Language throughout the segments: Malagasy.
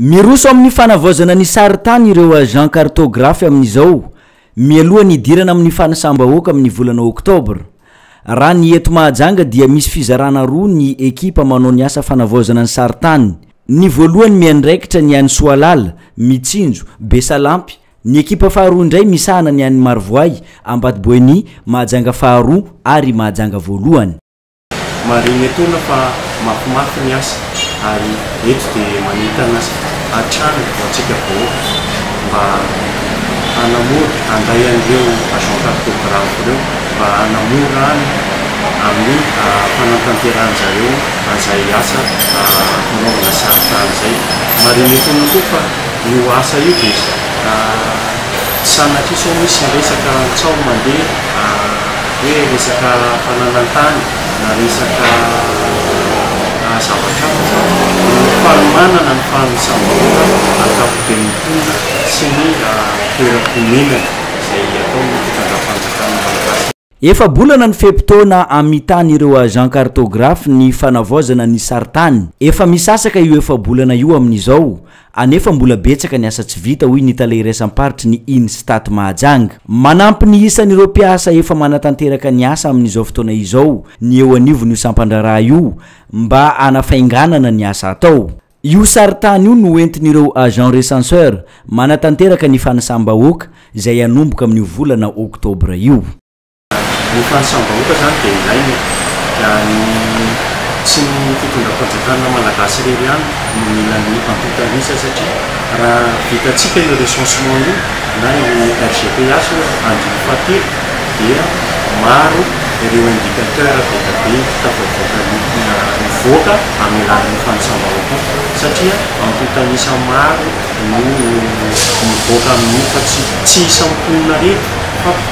Miroso amin'ny fanavaozana ny sarintany ireo agents cartographes amin'izao, mialoha ny hidirana amin'ny fanisam-bahoaka amin'ny volana oktobra. Raha ny eto Mahajanga dia misy fizarana roa ny ekipa manao ny asa fanavaozana ny sarintany. Ny voalohany miandraikitra ny any Soalala, Mitsinjo, Besalampy, ny ekipa faharoa indray misahana ny any Marovoay, Ambatoboeny, Mahajanga faharoa ary Mahajanga voalohany. Marihina etoana fa mafimafy ny asa ary eto dia manentana hatrany ho antsika vahoaka mba hanamora handay an'ireo agent cartographe ireo mba hanamora any amin'ny fanantanterahany zareo an'izay asa fanaovana sary tany izay. Marihina etoana koa fa io asa io dia sanatria sao misy resaka tsaho mandeha. Hoe resaka fananan-tany na resaka zavatra hafa fa ny fanomanana ny fanosam-bola ankapoben'ny mponina sy ny toeram-ponenany izay ataon'ny fitondram-panjakana malagasy. Efa-bolana ny fe-potoana amitan'ireo agents cartographes ny fanavaozana ny sarintany. Efa misasaka io efa-bolana io amin'izao anefa mbola betsaka ny asa tsy vita, hoy ny tale iraisam-paritry ny Instat Mahajanga. Manampy ny isan'ireo mpiasa efa manatanteraka ny asa amin'izao fotoana izao ny eo anivon'io sampan-draharaha io mba hanafainganana ny asa atao. Io sarintany io no entin'ireo agents recenseurs manatanteraka ny fanisam-bahoaka izay hanomboka amin'io volana oktobra io. Ny fanisam-bahoaka izany dia ilaina e! Dia ny tsy ny fitondram-panjakana malagasy irery ihany no mila ny antontan'isa satria raha vitantsika io recensement io na io RGPH io andininy fahatelo dia maro ireo indicateur be dia be tafavoaka mivoaka amin'ny alalan'ny fanisam-bahoaka io satria antontan'isa maro no mivoaka amin'io fa tsy tsy isan'ny mponina irery fa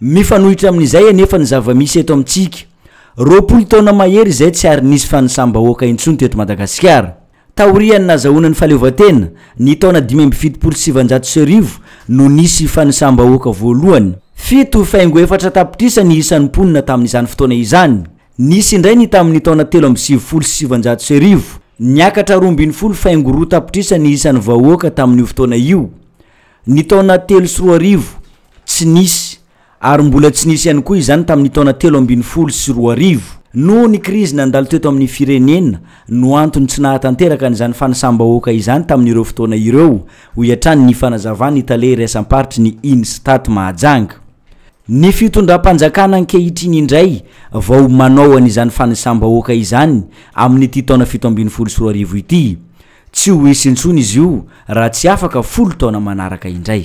Mifanohitra amin'izay anefa ny zava-misy eto amintsika. Roapolo taona mahery izay tsy ary nisy fanisam-bahoaka intsony teto Madagasikara. Taorian'ny nazahoana ny fahaleovantena, ny taona dimy amby fitopolo sy sivanjato sy arivo, no nisy fanisam-bahoaka voalohany. Fito faingo efatra tapitrisa ny isan'ny mponina tamin'izany fotoana izany. Nisy indray ny tamin'ny taona telo amby sivifolo sy sivanjato sy arivo. Niakatra roa ambin'ny folo faingo roa tapitrisa ny isan'ny vahoaka tamin'io fotoana io. Ny taona telo sy roa arivo, tsy nisy, ary mbola tsy nisy ihany koa izany tamin'ny taona telo ambin'ny folo sy roa arivo. Noho ny krizy nandalo teto amin'ny firenena no antony tsy nahatanteraka an'izany fanisam-bahoaka izany tamin'ireo fotoana ireo, hoy hatrany ny fanazavan'ny tale iraisam-paritry ny Instat Mahajanga. Ny fitondram-panjakana ankehitriny indray vao manao an'izany fanisam-bahoaka izany amin'ity taona fito ambin'ny folo sy roa arivo ity. Tsy ho hisy intsony izy io raha tsy afaka folo taona manaraka indray.